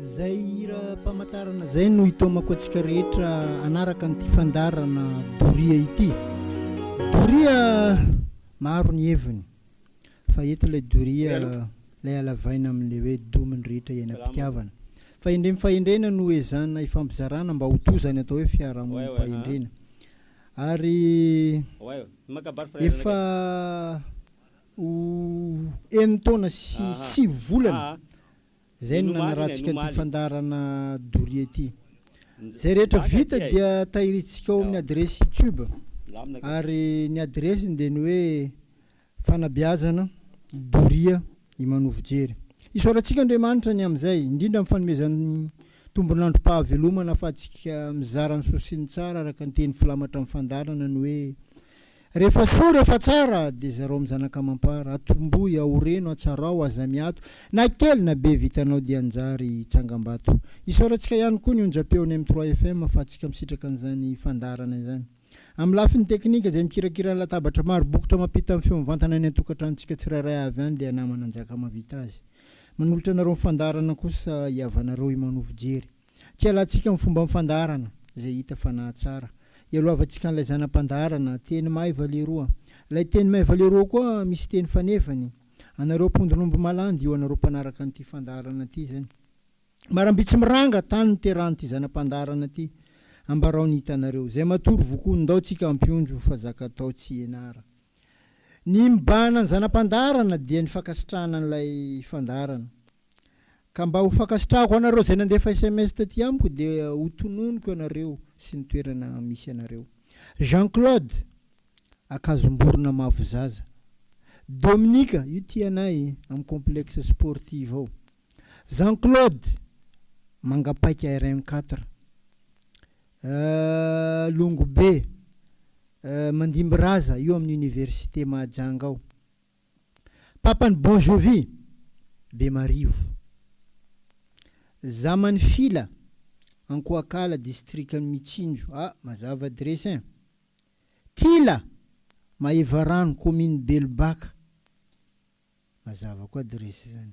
Izay hira pamantarana izay no hitaomako antsika rehetra anaraka an'ity fandarana doria ity. Doria maro ny heviny fa eto ilay doria ilay alavaina amin'ilay hoe domin'ny rehetra iainam-pitiavana. Fahendrem fahendrena no ezana ifampizarana mba ho toa izany atao hoe fiarahamonim-pahendrena. Ary efa ho enin-taona sy sivy volana Izay no nanarahantsika an'ity fandaharana doria ity. Izay rehetra vita dia tahirintsika ao amin'ny adiresy youtube. Ary ny adiresiny dia ny hoe Fanabeazana doria i Manovo Jery. Isaorantsika Andriamanitra ny amin'izay, indrindra amin'ny fanomezany tombon'androm-pahavelomana ahafahantsika mizara ny soa sy ny tsara araka ny teny filamatra amin'ny fandaharana ny hoe, Rehefa soa rehefa tsara dia zarao am zanak'amampara atombohy aoreno atsarao aza miato na kely na be vitanao dia anjary tsangambato isaorantsika ihany koa ny onjam-peo ny M trois FM fa antsika misitraka an'izany fandaharana izany am lafiny teknika izay mikirakira ny latabatra maro bokotra mampita ny feo mivantana any an-tokantranontsika tsirairay avy any dia namana Njakamahavita azy manolotra anareo ny fandaharana kosa hiavanareo Imanovo Jery. Kialantsika amin'ny fomban'ny fandaharana izay hita fa nahatsara. Ialohavantsika an'ilay zana-pandaharana, teny maiva lehiroa. Ilay teny maiva lehiroa koa misy teny fanefany. Anareo mpondron'omby malandy io anareo mpanaraka an'ity fandaharana ity izany. Maramby tsy miranga tany niterahan'ity zana-pandaharana ity. Ambarao ny hitanareo. Izay matory vokoa, ndao tsika hampionjo fa zaka atao tsy ianara. Ny mibahana ny zana-pandaharana dia ny fankasitrahana an'ilay fandaharana. Ka mba ho fankasitrahako anareo izay nandefa sms taty amiko dia ho tononiko anareo sy ny toerana misy anareo. Jean Claude, Akazomborona Mahafozaza. Dominika, io tianay, amin'ny complexe sportive ao. Jean Claude, Mangapaika RN quatre. Euh, Longobe, euh, Mandimbiraza, io amin'ny université Mahajanga ao. Papan'i Bon Jovi, Bemarivo. Zaman'i Fila, Ankoakala, distrikan'i Mitsinjo. Ah, mazava adiresy ein! Tila, Maevarano, kaominina Belobaka. Mazava koa adiresy izany.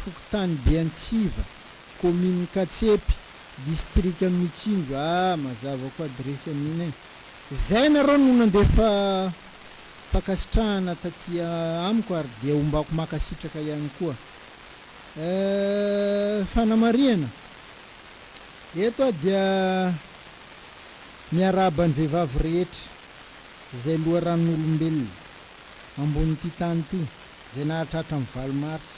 fokontany Beantsiva, kaomininy Katsepy, distrika Mitsinjo a, mazava koa adiresy an'iny e. Zay nareo no nandefa fankasitrahana taty amiko ary dia hombako makasitraka ihany koa. Euh fanamarihana, eto aho dia miarahaba ny vehivavy rehetra izay loharanon'olombelona ambonin'ity tany ity. Izay nahatratra ny valo marsa.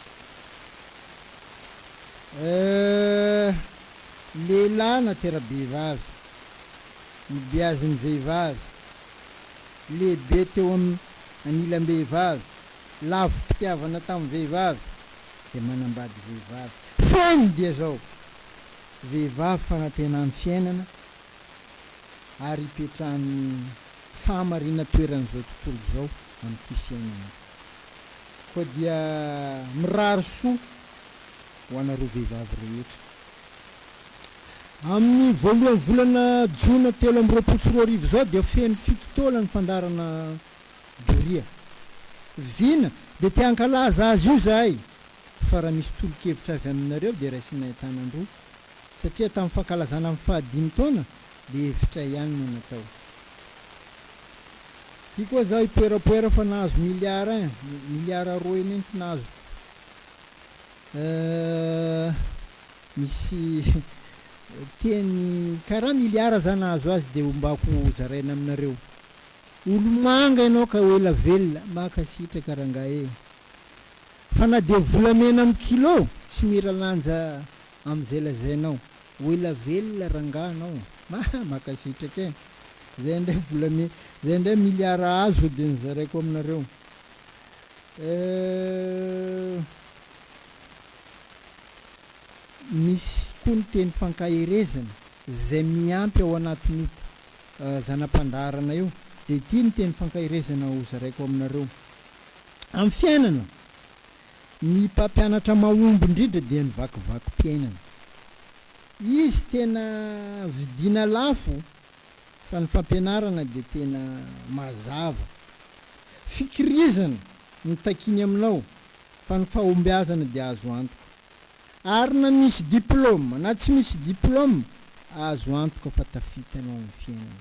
Eh, lehilahy na tera-behivavy, ny biazin'ny vehivavy, lehibe teo amin'ny anilam-behivavy, lavom-pitiavana tamin'ny vehivavy, dia manambady vehivavy. Feno dia izao, vehivavy fanantenan'ny fiainana ary ipetrahan'ny fahamarinatoeran'izao tontolo izao amin'ity fiainana. Koa dia mirary soa ho anareo vehivavy rehetra. Amin'ny voalohan'ny volana jona telo amby roapolo sy roa arivo izao dia feno fito taona ny fandaharana doria. Vina dia te hankalaza azy io izahay fa raha misy tolo-kevitra avy aminareo dia raisinay an-tanan-droa satria tamin'ny fankalazana ny fahadimy taona dia hevitray ihany no natao. Ty koa za ipoerapoera fa nahazo milliard un, milliard roa eo mintsy nazoko euh misy teny karaha milliard za nahazo azy de ombako hozaraina aminareo olomanga ianao ka ho ela velona mankasitraka rangah eh fa na dia volamena am kilo tsy miralanja amzay lazainao Ho ela velona rangaha anao. Haa makasitraka e! Zay indray vola mi zay indray milliards azo de nozaraiko aminareo eh. Misy koa ny teny fankaherezana zay miampy ao anatin'io zana-pandaharana io de ity ny teny fankaherezana ho zaraiko aminareo. Amin'ny fiainana Ny mpampianatra mahomby indrindra dia ny vakivakim-piainana. Izy tena vidiana lafo fa ny fampianarana dia tena mazava. Fikirizana no takiny aminao fa ny fahombiazana dia azo antoka. Ary na misy diplaoma na tsy misy diplaoma, azo antoka fa tafita ianao amin'ny fiainana.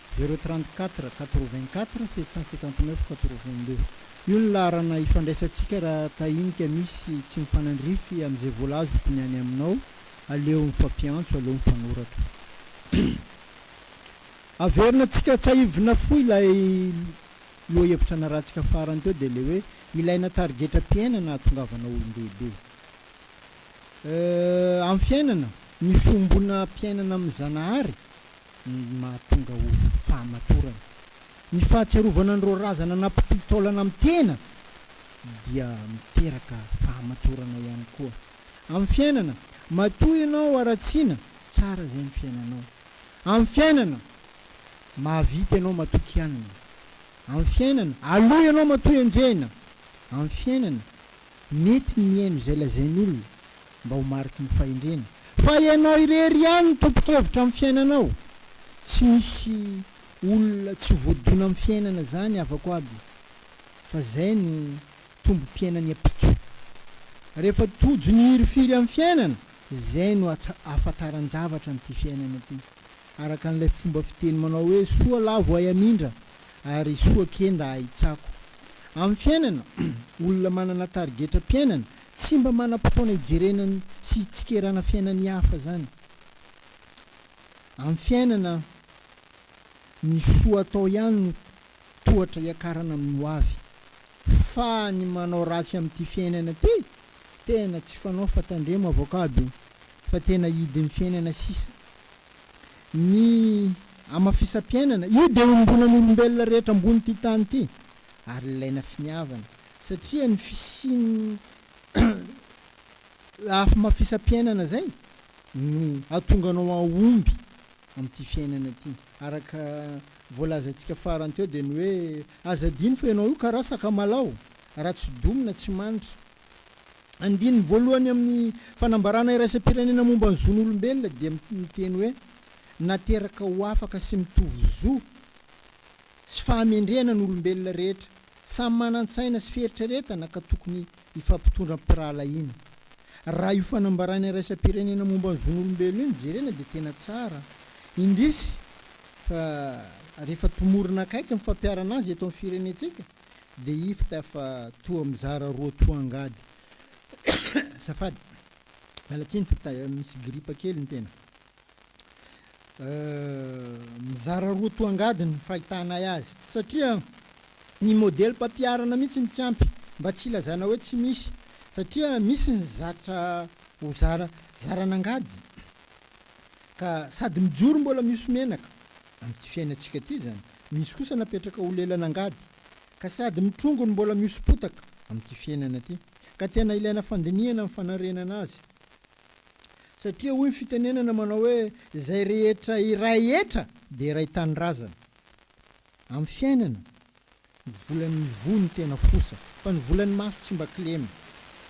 Zéro trente quatre, quatre vingt quatre, sept cent cinquante neuf, quatre vingt deux. Io ny laharana ifandraisantsika raha tahinika misy tsy mifanandrify amin'izay voalazoko ny any aminao, aleo mifampiantso, aleo mifanoratra. Averina antsika tsahivina fohy ilay lohahevitra narahantsika farany teo dia ilay hoe ilaina tarigetram-piainana hahatongavana olon-dehibe. Euh, amin'ny fiainana, mifombonam-piainana amin'ny Zanahary ny mahatonga ho fahamatorana. Ny fahatsiarovana an'ireo razana nampitohy taolana amin'ny tena dia miteraka fahamatorana ihany koa amin'ny fiainana. Matoa ianao haratsiana, tsara izay ny fiainanao. Amin'ny fiainana, mahavita ianao matoa kianina. Amin'ny fiainana, aloha ianao matoa enjehina. Amin'ny fiainana, Mety ny mihaino izay lazain'olona mba ho mariky ny fahendrena, fa ianao irery ihany no tompon-kevitra amin'ny fiainanao, tsy misy olona tsy voadona amin'ny fiainana izany havako aby, fa izay no tombom-piainan'ny ampitso. Rehefa tojo ny hirifiry amin'ny fiainana, izay no ahafantaran-javatra an'ity fiainana ity, araka an'ilay fomba fiteny manao hoe soa lavo ay hamindra ary soa kenda ahitsako. Amin'ny fiainana, olona manana tarigetram-piainana tsy mba manam-potoana hijerena sy hitsikerana fiainan'ny hafa izany. Amin'ny fiainana, ny soa atao ihany no tohatra hiakarana amin'ny hoavy. Fa ny manao ratsy amin'ity fiainana ity, tena tsy fanao fa tandremo avocado e! Fa tena hidin'ny fiainana sisa ny hamafisam-piainana, io dia ombonan'olombelona rehetra ambonin'ity tany ity, ary ilaina finiavana, satria ny fisian'ny hamafisam-piainana izay no hahatonga anao hahomby amin'ity fiainana ity. Araka voalazantsika farany teo dia ny hoe, aza adino fa ianao io karaha sakamalaho, raha tsy domina, tsy manitra, Andininy voalohany amin'ny Fanambarana Iraisam-pirenena Momba ny Zon'olombelona dia miteny hoe nateraka ho afaka sy mitovy zo sy fahamendrehana ny olombelona rehetra, samy manan-tsaina sy fieritreretana ka tokony hifampitondra am-pirahalahiana. Raha io Fanambarana Iraisam-pirenena Momba ny Zon'olombelona io no jerena dia tena tsara, indrisy fa rehefa tomorina akaiky ny fampiharana azy eto amin'ny firenentsika, dia ifta fa toa mizara roa toa angady Azafady miala tsiny fa misy gripa kely ny tena Mizara roa toa angady ny fahitanay azy satria ny modelim-pampiharana mihitsy no tsy ampy mba tsy hilazana hoe tsy misy satria misy ny zatra ho zara zaran'angady ka sady mijoro mbola mihoso menaka Amin'ity fiainantsika ity izany. Misy kosa napetraka ho lelan'angady, ka sady mitrongo no mbola mihoso-potaka, amin'ity fiainana ity. Ka tena ilaina fandinihana ny fanarenana azy. Satria hoy ny fitenenana manao hoe, izay rehetra iray hetra dia iray tanindrazana. Amin'ny fiainana. Volan'ny voa no tena fosa, fa ny volan'ny maso tsy mba kilema.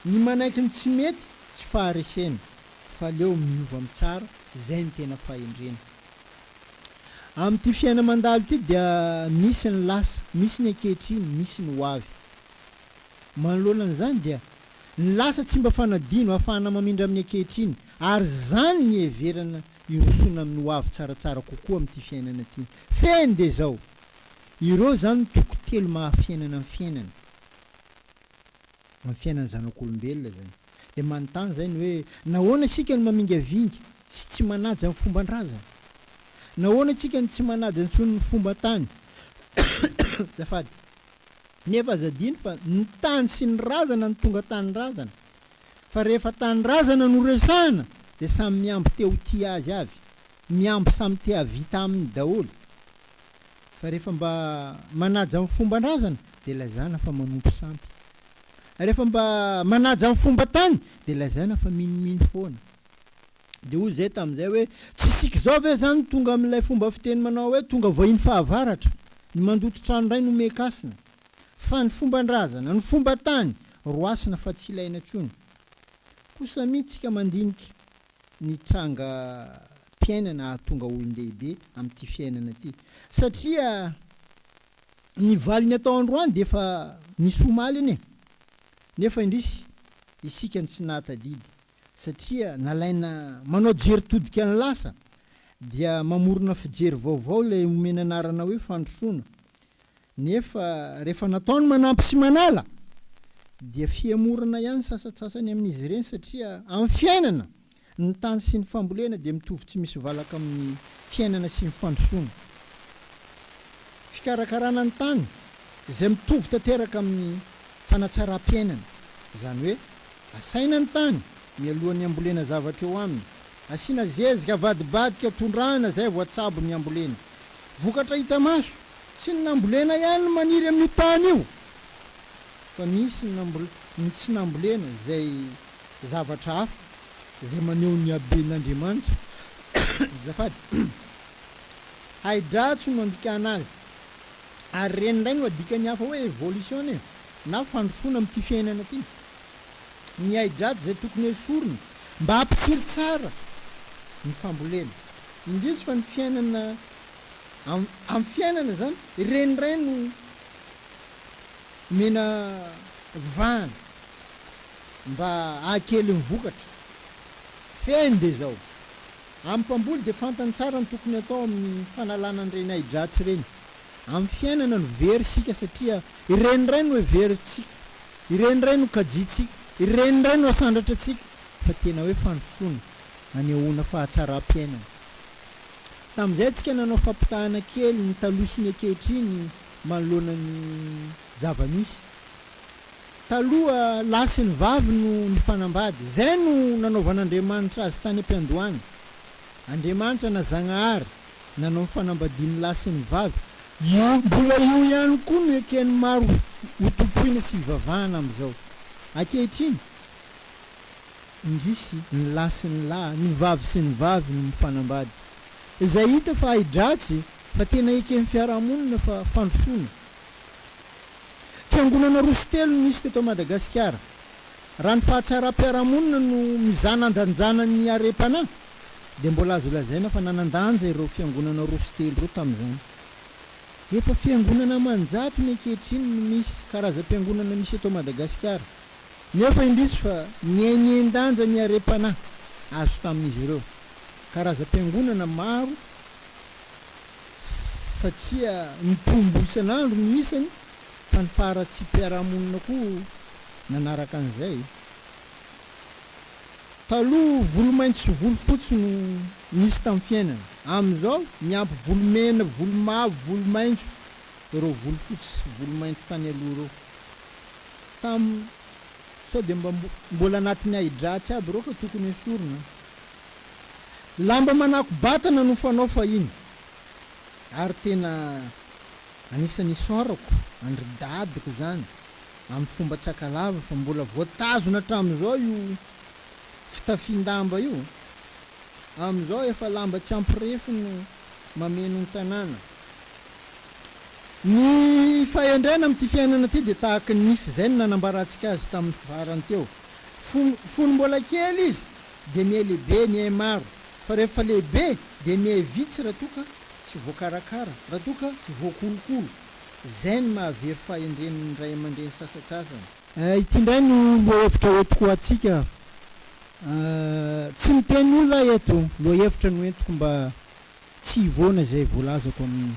Ny manaiky ny tsy mety tsy faharesena, f'aleo miova mitsara, zay no tena fahendrena. Amin'ity fiaina mandalo ity dia misy ny lasa, misy ny ankehitriny, misy ny ho avy. Manoloana an'izany dia, ny lasa tsy mba fanadino, ahafahana mamindra amin'ny ankehitriny, ary zany ny iheverana hirosoana amin'ny ho avy tsaratsara kokoa amin'ity fiainana ity. Fehiny dia izao, Ireo izany no toko telo maha fiainana ny fiainana, amin'ny fiainan'ny zanak'olombelona izany. Dia manontany izay ny hoe, nahoana isika no mamingavinga sy tsy manaja ny fomban-drazana? Nahoana isika no tsy manaja intsony ny fomban-tany? Azafady. Nefa aza adino fa ny tany sy ny razana no tonga tanindrazana. Fa rehefa tanindrazana no resahana dia samy mihambo te ho tia azy avy, mihambo samy te hahavita aminy daholo. fa rehefa mba manaja ny fomban-drazana dia lazaina fa manompo sampy. Rehefa mba manaja ny fomban-tany dia lazaina fa minomino foana. Dia hoy izahay tamin'izay hoe, Tsy isika izao ve izany tonga amin'ilay fomba fiteny manao hoe tonga vahiny fahavaratra, ny mandoto trano indray no meka hasina? Fa ny fomban-drazana, ny fomban-tany, roasina fa tsy ilaina intsony. Kosa mihintsy isika mandinika ny trangam-piainana hahatonga olon-dehibe amin'ity fiainana ity. Satria ny valiny atao androany dia efa misy omaly anie. Nefa indrisy, isika no tsy nahatadidy, satria nalaina manao jery todika ny lasa, dia mamorona fijery vaovao ilay omena anarana hoe fandrosoana. Nefa rehefa natao ny manampy sy manala dia fihemorana ihany ny sasatsasany amin'izy ireny satria amin'ny fiainana, ny tany sy ny fambolena dia mitovy tsy misy valaka amin'ny fiainana sy ny fandrosoana. Fikarakarana ny tany izay mitovy tanteraka amin'ny fanatsaram-piainana, izany hoe asaina ny tany mialohan'ny hambolena zavatra eo aminy, asiana zezika avadibadika tondrahana izay vao atsabo ny hambolena. Vokatra hita maso. Tsy ny nambolena ihany no maniry amin'io tany io fa misy ny ny tsy nambolena izay zavatra hafa izay maneho ny haben'Andriamanitra azafady Hydra-tso no andikana azy ary ireny indray no adikan'ny hafa hoe evolution e na fandrosoana amin'ity fiainana ity Ny Hydra-tso izay tokony hesorina mba hampitsiry tsara ny fambolena Indrisy fa ny fiainana amin'ny fiainana izany, ireny indray no omena vahana mba hahakely ny vokatra. Fehiny dia izao, amin'ny mpamboly dia fantany tsara ny tokony hatao amin'ny fanalana an'ireny ahi-dratsy ireny amin'ny fiainana no very isika satria ireny indray no heverintsika, ireny indray no kajiantsika, ireny indray no asandratra antsika fa tena hoe fandrosoana hanehoana fahatsaram-piainana. Tamin'izay tsika nanao fampitahana kely ny taloha sy ny ankehitriny manoloana ny zava-misy. Taloha, lahy sy ny vavy no nifanambady. Izay no nanaovan'Andriamanitra azy tany am-piandohana. Andriamanitra na Zagnahary nanao ny fanambadian'ny lahy sy ny vavy. Io mbola io ihany koa no eken'ny maro hotompoina sy hivavahana amin'izao. Ankehitriny. indrisy, ny lahy sy ny lahy, ny vavy sy ny vavy no mifanambady. Izay hita fa ahi-dratsy fa tena eken'ny fiarahamonina fa fandrosoana. Fiangonana roa sy telo no nisy teto Madagasikara. Raha ny fahatsaram-piarahamonina no mizana andanjana ny harem-panahy dia mbola azo lazaina fa nanan-danja ireo fiangonana roa sy telo ireo tamin'izany. Efa fiangonana aman-jatony ankehitriny no misy karazam-piangonana misy eto Madagasikara. nefa indrisy fa nihainian-danja ny harem-panahy azo tamin'izy ireo. Karazam-piangonana maro satria nitombo isan'andro ny isany fa ny faharatsiam-piarahamonina koa nanaraka an'izay. Taloha volomaitso sy volofotsy no nisy tamin'ny fiainana, amin'izao niampy volomena, volomavo, volomaitso ireo volofotsy sy volomaitso tany aloha ireo. Samy sao dia mba mbola anatin'ny ahidratsy aby ireo ka tokony esorina an! Lamba manako-batana no fanao fahiny ary tena anisan'ny isaorako an-dry dadiko izany amin'ny fomba tsy akalava fa mbola voatazona hatramin'izao io fitafian-damba io, amin'izao efa lamba tsy ampirefy no mameno ny tanàna. Ny fahendrena amin'ity fiainana ity dia tahaka ny nify izay no nanambarantsika azy tamin'ny farany teo. Fony mbola kely izy dia mihay lehibe, mihay maro, fa rehefa lehibe dia mihay vitsy raha toa ka tsy voakarakara, raha toa ka tsy voakolokolo. Izay no mahavery fahendren'ny ray aman-dreny sasantsasany. Ity indray no lohahevitra hoentiko ho antsika. Tsy miteny olona aho eto. Lohahevitra no entiko mba Tsy hivoana izay voalazako amin'iny.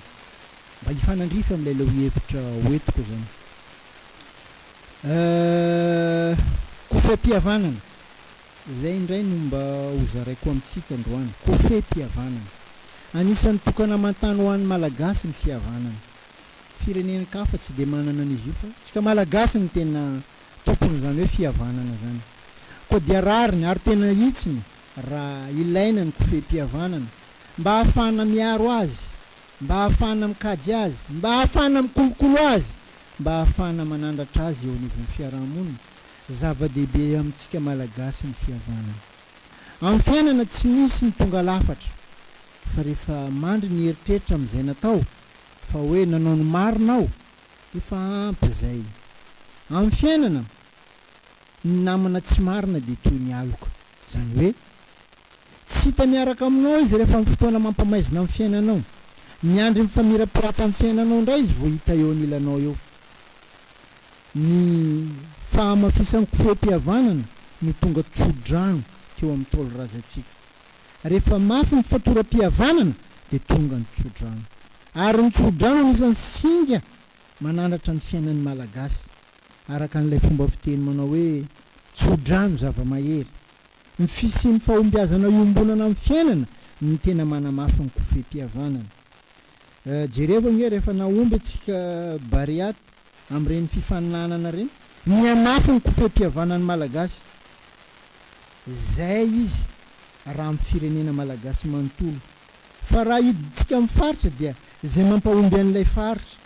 Mba hifanandrify amin'ilay leo hevitra ho entiko izany. Euh. Kofem-pihavanana. Izay indray no mba ho zaraiko amintsika androany. Kofem-pihavanana. Anisan'ny tokanamantany ho an'ny Malagasy ny fihavanana. Firenen-kafa tsy dia manana an'izy io fa tsika Malagasy no tena tompon'izany hoe fihavanana izany. Koa dia rariny ary tena hitsiny raha ilaina ny kofehim-pihavanana, mba ahafahana miaro azy, mba ahafahana mikajy azy, mba ahafahana mikolokolo azy, mba ahafahana manandratra azy eo anivon'ny fiaraha-monina. Zava-dehibe amintsika Malagasy ny fihavanana. Amin'ny fiainana tsy misy ny tonga lafatra, fa rehefa mandry ny eritreritra amin'izay natao, fa hoe nanao ny marina aho, efa ampy izay. Amin'ny fiainana, Ny namana tsy marina dia toy ny aloka. Izany hoe, tsy hita miaraka aminao izy rehefa amin'ny fotoana mampamaizina amin'ny fiainanao. Miandry ny famirapirapan'ny fiainanao indray izy vao hita eo anilanao eo. Ny fahamafisan'ny kofehim-pihavanana no tonga tsodrano teo amin'ny Ntaolo razantsika. Rehefa mafy ny fatoram-pihavanana dia tonga ny tsodrano. Ary ny tsodrano anisan'ny singa manandratra ny fiainan'ny Malagasy. araka an'ilay fomba fiteny manao hoe tso-drano zava-mahery. Ny fisian'ny fahombiazana iombonana amin'ny fiainana no tena manamafy ny kofehim-pihavanana. Jereo ange rehefa nahomby antsika Bariat amin'ireny fifaninanana ireny. Mihamafy ny kofehim-pihavanan'ny Malagasy. Izay izy raha amin'ny firenena Malagasy manontolo. Fa raha hidintsika amin'ny faritra dia izay mampahomby an'ilay faritra.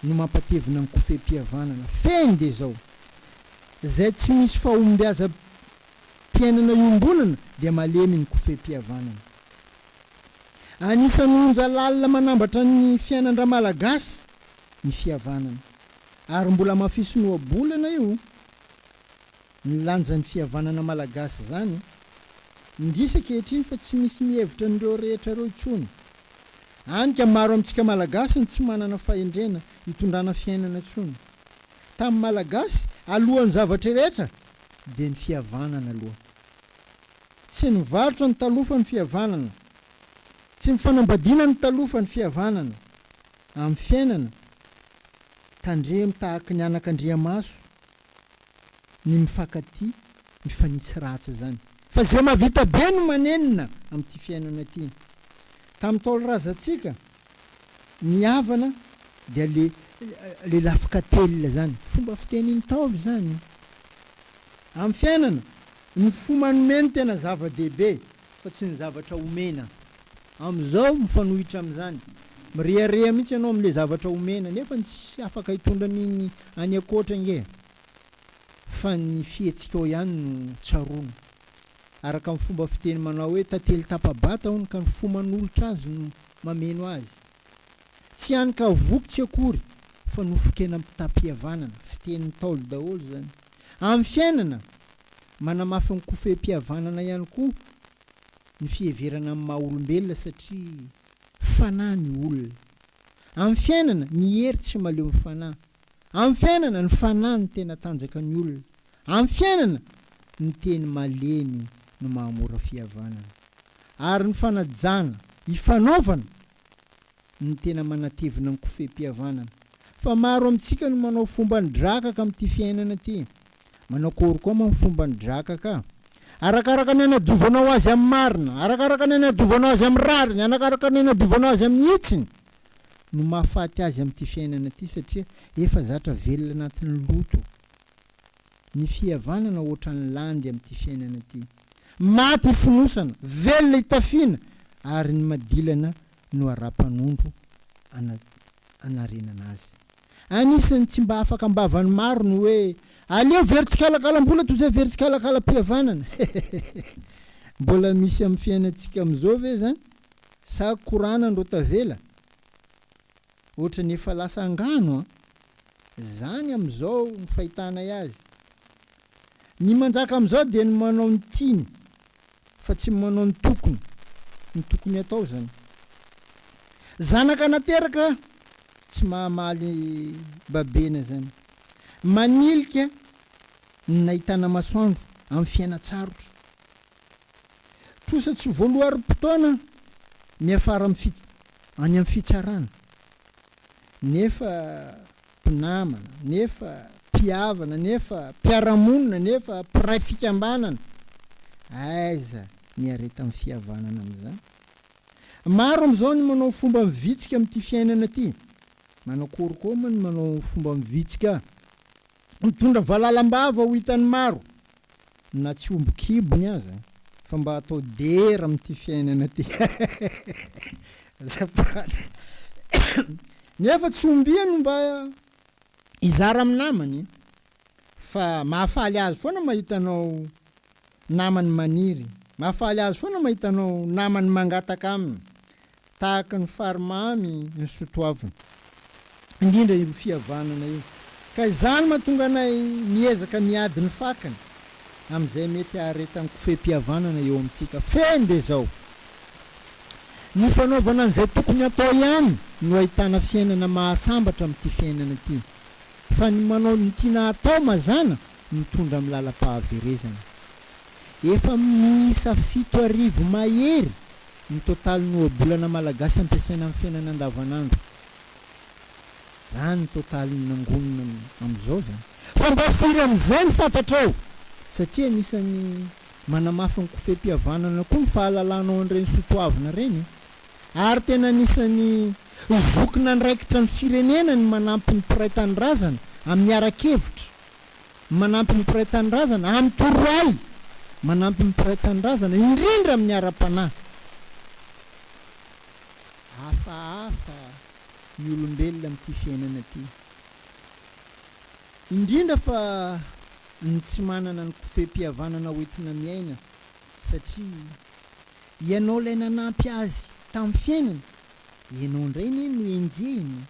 no mampatevina ny kofehim-pihavanana fehiny dia izao, izay tsy misy fahombiazam-piainana iombonana dia malemy ny kofehim-pihavanana. Anisan'ny onja lalina manambatra ny fiainan-dRamalagasy ny fihavanana, ary mbola mafisin'ohabolana io. Ny lanjan'ny fihavanana malagasy izany, indrisy ankehitriny fa tsy misy mihevitra an'ireo rehetra ireo intsony. Hany ka maro amintsika malagasy no tsy manana fahendrena hitondrana fiainana intsony. Tamin'ny malagasy, alohan'ny zavatra rehetra dia ny fihavanana aloha. Tsy nivarotra ny taloha fa ny fihavanana. Tsy nifanambadiana ny taloha fa ny fihavanana. Amin'ny fiainana, tandremo tahaky ny anakandriamaso. ny mifankatia, mifanitsy ratsy izany. Fa izay mahavita be no manenina amin'ity fiainana ity. Tamin'ny taolo-razantsika, ny havana dia le le lafika telina izany. Fomba fitenin'ny ntaolo izany. Amin'ny fiainana, ny fo manome no tena zava-dehibe. fa tsy ny zavatra omena. Amin'izao mifanohitra amin'izany. Mirehareha mihitsy ianao amin'ilay zavatra omena nefa ny tsisy afaka hitondra an'iny any ankoatra ange fa ny fihetsikao ihany no tsaroana. Araka ny fomba fiteny manao hoe tantely tapa-bata hono ka ny fo manolotra azy no mameno azy. Tsy any ka voky tsy akory fa nofokenam-pitam-pihavanana, fitenin'ny Ntaolo daholo izany. Amin'ny fiainana Manamafy ny kofehim-pihavanana ihany koa ny fiheverana ny maha olombelona satria fanahy ny olona. Amin'ny fiainana, ny hery tsy maleo ny fanahy. Amin'ny fiainana, ny fanahy no tena tanjaka ny olona. Amin'ny fiainana, ny teny malemy no mahamora fihavanana. Ary ny fanajana, ifanaovana, ny tena manatevina ny kofehim-pihavanana. Fa maro amintsika no manao fomban'ny drakaka amin'ity fiainana ity. Manao akory koa moa ny fomban'ny drakaka? Arakaraka ny anadiovanao azy amin'ny marina, arakaraka ny anadiovanao azy amin'ny rariny, arakaraka ny anadiovanao azy amin'ny hitsiny no mahafaty azy amin'ity fiainana ity satria efa zatra velona anatin'ny loto. Ny fihavanana hoatran'ny landy amin'ity fiainana ity. Maty ifonosana, velona itafiana, ary ny madilana no ara-panondro ana, anarenana azy. Anisan'ny tsy mba afaka am-bavan'ny maro ny hoe, Aleo very tsikalakalam-bola toy izay very tsikalakalam-pihavanana. Mbola misy amin'ny fiainantsika amin'izao ve izany? Sa korana ndro tavela? Ohatran'ny efa lasa angano an! Zany amizao ny fahitanay azy. Ny manjaka amizao dia ny manao ny tiany fa tsy manao ny tokony ny tokony atao zany. Zanaka nateraka tsy mahamaly babena zany. Manilika ny nahitana masoandro am fiainatsarotra. Trosa tsy voaloarim potoana miafara am fits any am fitsarana. nefa mpinamana, nefa mpihavana, nefa mpiara-monina, nefa mpiray fikambanana. Aiza ny iaretan'ny fihavanana amin'izany? Maro amin'izao ny manao fomba mivitsika amin'ity fiainana ity. Manakory koa moa ny manao fomba mivitsika? Mitondra valala am-bava ho hitan'ny maro, na tsy omby kibony aza, fa mba atao dera amin'ity fiainana ity azafady. Nefa tsy ombia no mba hizara amin'ny namany, fa mahafaly azy foana mahita anao namany maniry, mahafaly azy foana mahita anao namany mangataka aminy, Tahaka ny fary mamy ny sotoavina. Indrindra io fihavanana io. Ka izany mahatonga anay miezaka miady ny fakany amin'izay mety haharetan'ny kofehim-pihavanana eo amintsika. Fehiny dia izao, Ny fanaovana an'izay tokony hatao ihany no ahitana fiainana mahasambatra amin'ity fiainana ity. Fa ny manao ny tiana hatao mazàna mitondra amin'ny lalam-pahaverezana. Efa miisa fito arivo mahery ny totalin'ny ohabolana malagasy ampiasaina amin'ny fiainana andavanandro. Izany ny totalin'ny nangonina amin'izao izany. Fa mba firy amin'izay no fantatrao? Satria anisan'ny manamafy ny kofehim-pihavanana koa ny fahalalanao an'ireny soatoavina ireny e! Ary tena anisan'ny zokin'andraikitra ny firenena ny manampy ny mpiray tanindrazana amin'ny ara-kevitra manampy ny mpiray tanindrazana amin'ny torohay manampy ny mpiray tanindrazana indrindra amin'ny ara-panahy. Hafahafa ny olombelona amin'ity fiainana ity, indrindra fa ny tsy manana ny kofehim-pihavanana hoentina miaina satria ianao ilay nanampy azy tamin'ny fiainana, ianao indray anie no enjehina.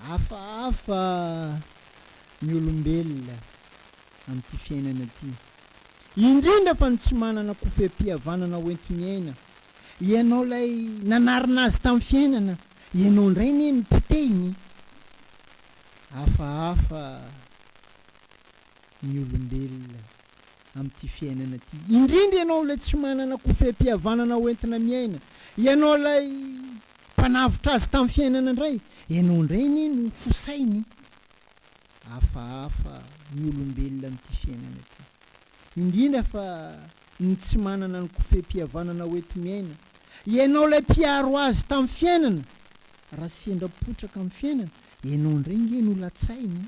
Hafahafa ny olombelona amin'ity fiainana ity, indrindra fa ny tsy manana kofehim-pihavanana hoenti-miaina. Ianao ilay nanarina azy tamin'ny fiainana, ianao indray anie no potehiny. Hafahafa ny olombelona amin'ity fiainana ity, indrindra ianao ilay tsy manana kofehim-pihavanana hoentina miaina, ianao ilay. Mpanavotra azy tamin'ny fiainana indray ianao indray anie no fo sainy. Hafahafa ny olombelona amin'ity fiainana ity. Indrindra fa ny tsy manana ny kofehim-pihavanana hoenti-miaina. Ianao ilay mpiaro azy tamin'ny fiainana. Raha sendra potraka amin'ny fiainana, ianao indray nge no latsainy.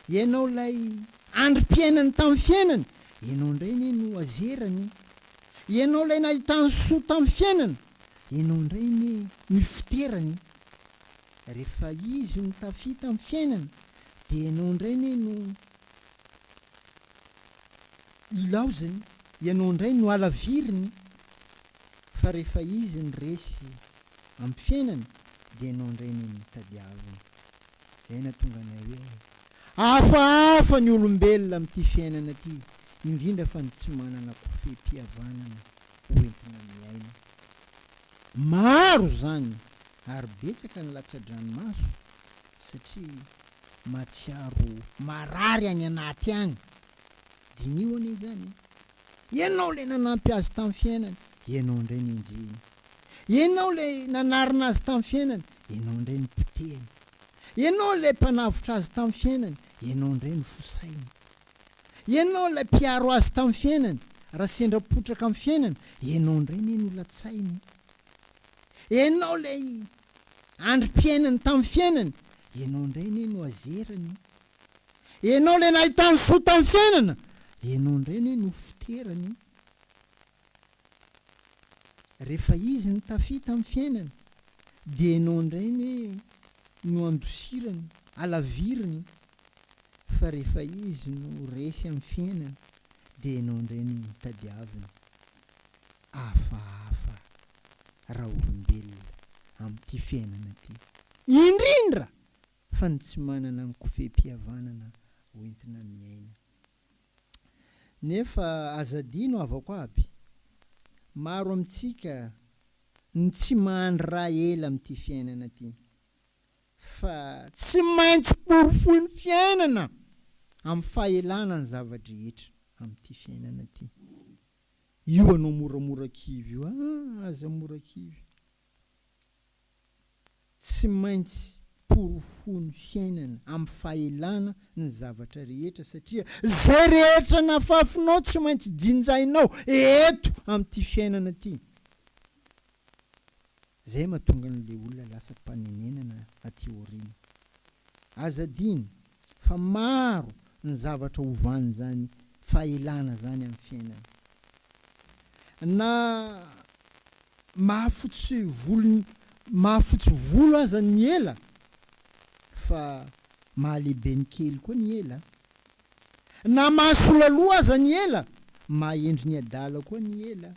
Ianao ilay andrim-piainany tamin'ny fiainany, ianao indray anie no azerany. Ianao ilay nahitany soa tamin'ny fiainana, Ianao indray anie no ifoterany e! Rehefa izy no tafita amin'ny fiainana dia ianao indray anie no ilaozany, ianao indray no halaviriny fa rehefa izy no resy amin'ny fiainana dia ianao indray anie no tadiaviny. Izay nahatonga anay hoe hafahafa ny olombelona amin'ity fiainana ity, indrindra fa ny tsy manana kofehim-pihavanana ho entina miaina. Maro izany ary betsaka ny latsa-dranomaso satria mahatsiaro marary any anaty any. Diniho anie izany e! Ianao ilay nanampy azy tamin'ny fiainany, ianao indray no enjehiny. Ianao ilay nanarina azy tamin'ny fiainany, ianao indray no potehiny. Ianao ilay mpanavotra azy tamin'ny fiainany, ianao indray no fosainy. Ianao ilay mpiaro azy tamin'ny fiainany, raha sendra potraka amin'ny fiainana, ianao indray anie no latsainy. Ianao ilay androm-piainany tamin'ny fiainany, ianao indray anie no azerany. Ianao ilay nahitany soa tamin'ny fiainana, ianao indray anie no foterany. Rehefa izy no tafita amin'ny fiainany dia ianao indray anie no andosirany, alaviriny, fa rehefa izy no resy amin'ny fiainany dia ianao indray no tadiaviny. Hafahafa raolombelona amin'ity fiainana ity, indrindra fa ny tsy manana ny kofehim-pihavanana hoentina miaina Nefa aza adino havako aby, maro amintsika no tsy mahandry raha ela amin'ity fiainana ity, fa tsy maintsy porofoin'ny fiainana amin'ny fahelana ny zava-drehetra amin'ity fiainana ity. Io anao moramora kivy io, ah aza mora kivy. Tsy maintsy porofoin'ny fiainana amin'ny fahelana ny zavatra rehetra satria izay rehetra nafafinao tsy maintsy jinjainao eto amin'ity fiainana ity. Izay mahatonga an'ilay olona lasa mpanenenana aty aoriana. Aza adino fa maro ny zavatra ovan'izany fahelana izany amin'ny fiainana. Na mahafotsy volo mahafotsy volo aza ny ela fa mahalehibe ny kely koa ny ela. Na mahasola loha aza ny ela, mahahendry ny adala koa ny ela.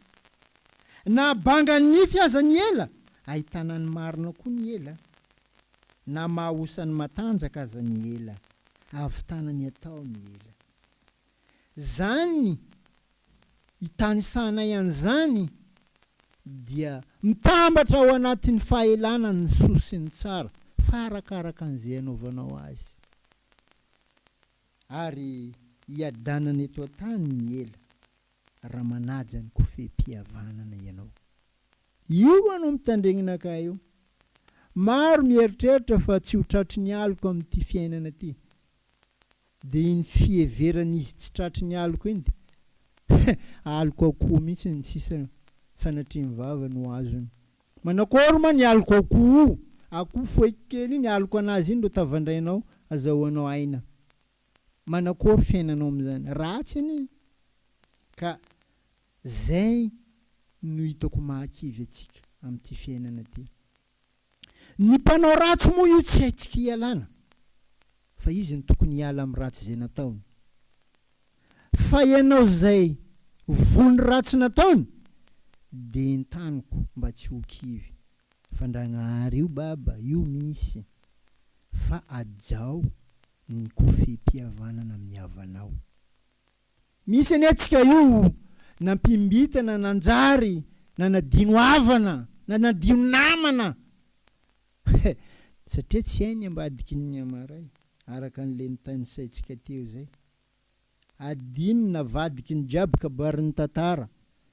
Na banga ny nify aza ny ela, ahitana ny marina koa ny ela. Na maha osan'ny matanjaka aza ny ela, ahavitana ny atao ny ela. Zany itanisahanay an'izany dia mitambatra ao anatin'ny fahelana ny soa sy ny tsara fa arakaraka an'izay anaovanao azy. Ary iadanana eto an-tany ny ela raha manaja ny kofehim-pihavanana ianao. Io moa no mitandregnanakah io. Maro mieritreritra fa tsy ho tratry ny aloka amin'ity fiainana ty. Dia iny fiheverana izy tsy tratry ny aloka iny dia aloka akoho mihitsy ny sisa sanatria ny vava no azony. Manakory moa ny aloka akoho io, akoho foeky kely iny aloka anazy iny no tavandrainao azahoanao aina. Manakory fiainanao amin'izany. Ratsy anie. Ka. Izay no hitako mahakivy antsika amin'ity fiainana ity. Ny mpanao ratsy moa io tsy haintsika ialana fa izy no tokony hiala amin'ny ratsy izay nataony. Fa ianao izay voa ny ratsy nataony dia entaniko mba tsy ho kivy fa Ndragnahary io Baba io misy fa hajao ny kofehim-pihavanana amin'ny havanao. Misy anie antsika io nampimbitana nanjary nanadino havana nanadino namana satria tsy hay ny ambadiky ny miamaray araka ny lentany saintsika teo zay adino navadiky ny jiaby kabary ny tantara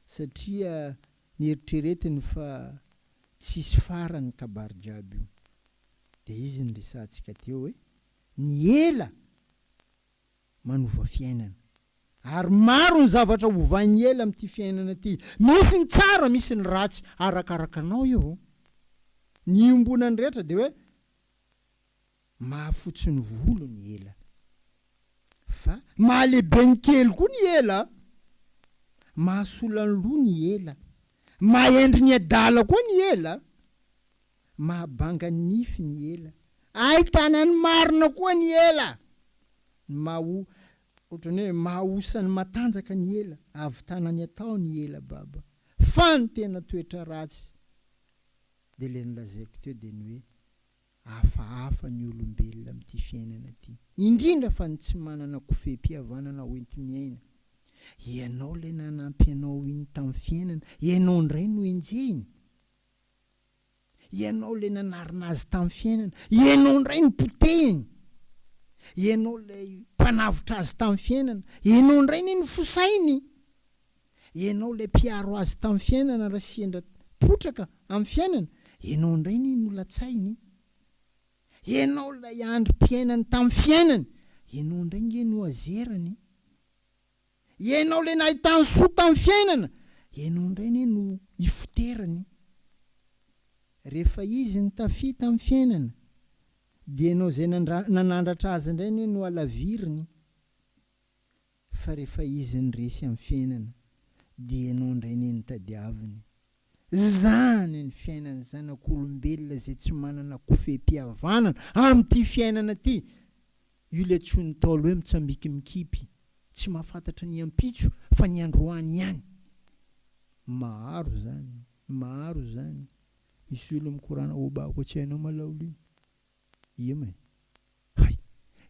satria nieritreretiny fa tsisy farany kabary jiaby io de izy ny resahantsika teo hoe ny ela manova fiainana. Ary maro ny zavatra hovain'i Ela amin'ity fiainana ity. Misy ny tsara, misy ny ratsy, arakaraka anao io. Ny iombonan'ny rehetra dia hoe mahafotsy ny volo ny Ela. Fa mahalehibe ny kely koa ny Ela. Mahasola ny loha ny Ela. Mahendry ny adala koa ny Ela. Mahabanga ny nify ny ela. Ahitana ny marina koa ny ela. Ny maha o, ohatran'ny hoe maha osa ny matanjaka ny ela, ahavitana ny atao ny ela baba. Fa ny tena toetra ratsy, dia ilay nolazaiko teo dia ny hoe hafahafa ny olombelona amin'ity fiainana ity. Indrindra fa ny tsy manana kofehim-pihavanana hoenti-miaina. Ianao ilay nanampy anao iny tamin'ny fiainana, ianao indray no enjehiny. Ianao ilay nanarina azy tamin'ny fiainana. Ianao indray no potehiny. Ianao ilay mpanavotra azy tamin'ny fiainana. Ianao indray anie no fosainy. Ianao ilay mpiaro azy tamin'ny fiainana raha sendra potraka amin'ny fiainana. Ianao indray anie no latsainy. Ianao ilay androm-piainany tamin'ny fiainany. Ianao indray ange no azerany. Ianao ilay nahita ny soa tamin'ny fiainana, ianao indray anie no ifoterany. Rehefa izy no tafita amin'ny fiainana, dia ianao izay nanandratra azy indray anie no alaviriny. Fa rehefa izy no resy amin'ny fiainana, dia ianao indray anie no tadiaviny. Izany ny fiainan'ny zanak'olombelona izay tsy manana kofehim-pihavanana amin'ity fiainana ity. Io ilay antsoin'ny Ntaolo hoe mitsambikimikipy, tsy mahafantatra ny ampitso fa ny androany ihany. Maro izany, maro izany. Misy olona mikorana, Oba, koa tsy hainao malao lio. Iem e! Hay!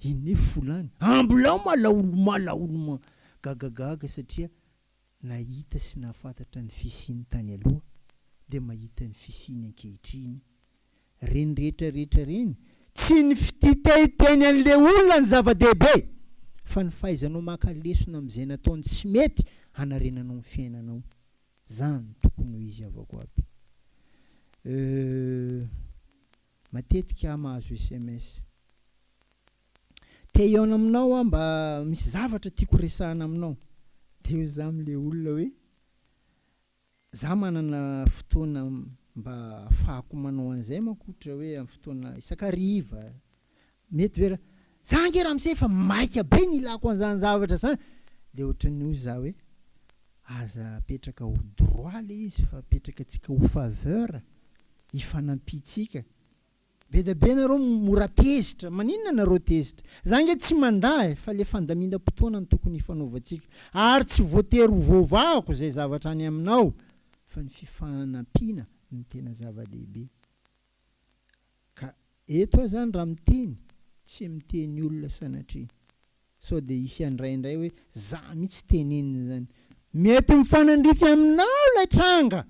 I Nef fo lany! Ambilao malaolo malaolo gagagaga satria nahita sy nahafantatra ny fisiany tany aloha dia mahita ny fisiany ankehitriny. Reny rehetra rehetra reny, tsy ny fititaitainy an'ilay olona ny zava-dehibe fa ny fahaizanao maka lesona amin'izay nataony tsy mety hanarenanao ny fiainanao. Zany tokony ho izy avako aby. Euh. Matetika aho mahazo sms. Te hihaona aminao aho mba misy zavatra tiako resahana aminao. Dia eo izaho amin'ilay olona hoe, izaho manana fotoana mba ahafahako manao an'izay manko ohatra hoe amin'ny fotoana isan-kariva Mety ve ra. Za ange ramose efa maika be ny ilako an'izany zavatra zany dia ohatran'ny hoy za hoe aza apetraka ho droit le izy fa apetraka antsika ho faveur hifanampiantsika be dia be nareo mora tezitra maninona nareo tezitra za ange tsy mandà e fa le fandamindam-potoana no tokony hifanaovantsika ary tsy voatery ho voavahako zay zavatra any aminao fa ny fifanampiana no tena zava-dehibe Ka eto aho zany raha miteny tsy miteny olona sanatria sao dia hisy handray indray hoe za mihitsy tenenina zany. Mety mifanandrify aminao ilay tranga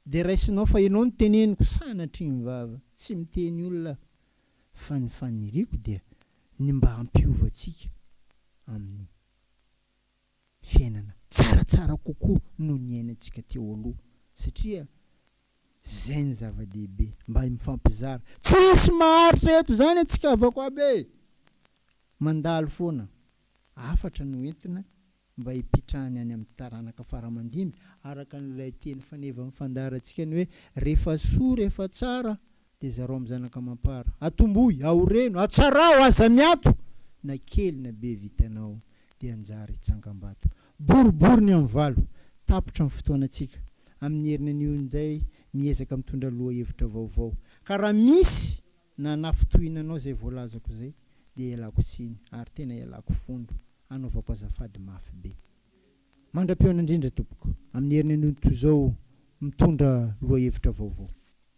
dia raisinao fa ianao no teneniko sanatria mivava. Tsy miteny olona aho fa ny faniriako dia ny mba hampiova antsika amin'ny. fiainana tsaratsara kokoa noho ny iainantsika teo aloha satria zay ny zava-dehibe mba mifampizara tsisy maharitra eto zany antsika havako aby e! mandalo foana hafatra no entina mba hipitrahany any amin'ny taranaka faramandimby araka an'ilay teny faneva mifandaharantsika ny hoe rehefa soa rehefa tsara dia zarao amin'ny zanaka amam-para. Atomboy, aoreno, atsaraho, aza miato! Na kely na be vitanao dia anjary hitsangambato. Boribory ny amin'ny valo, tapitra ny fotoanantsika. Amin'ny heriny anio indray miezaka mitondra lohahevitra vaovao. Ka raha misy na nafintohina anao izay voalazako izay dia ialako tsiny ary tena ialako fondro, anaovako azafady mafy be. Mandra-pihaona indrindra tompoko, amin'ny heriny anio toy izao mitondra lohahevitra vaovao.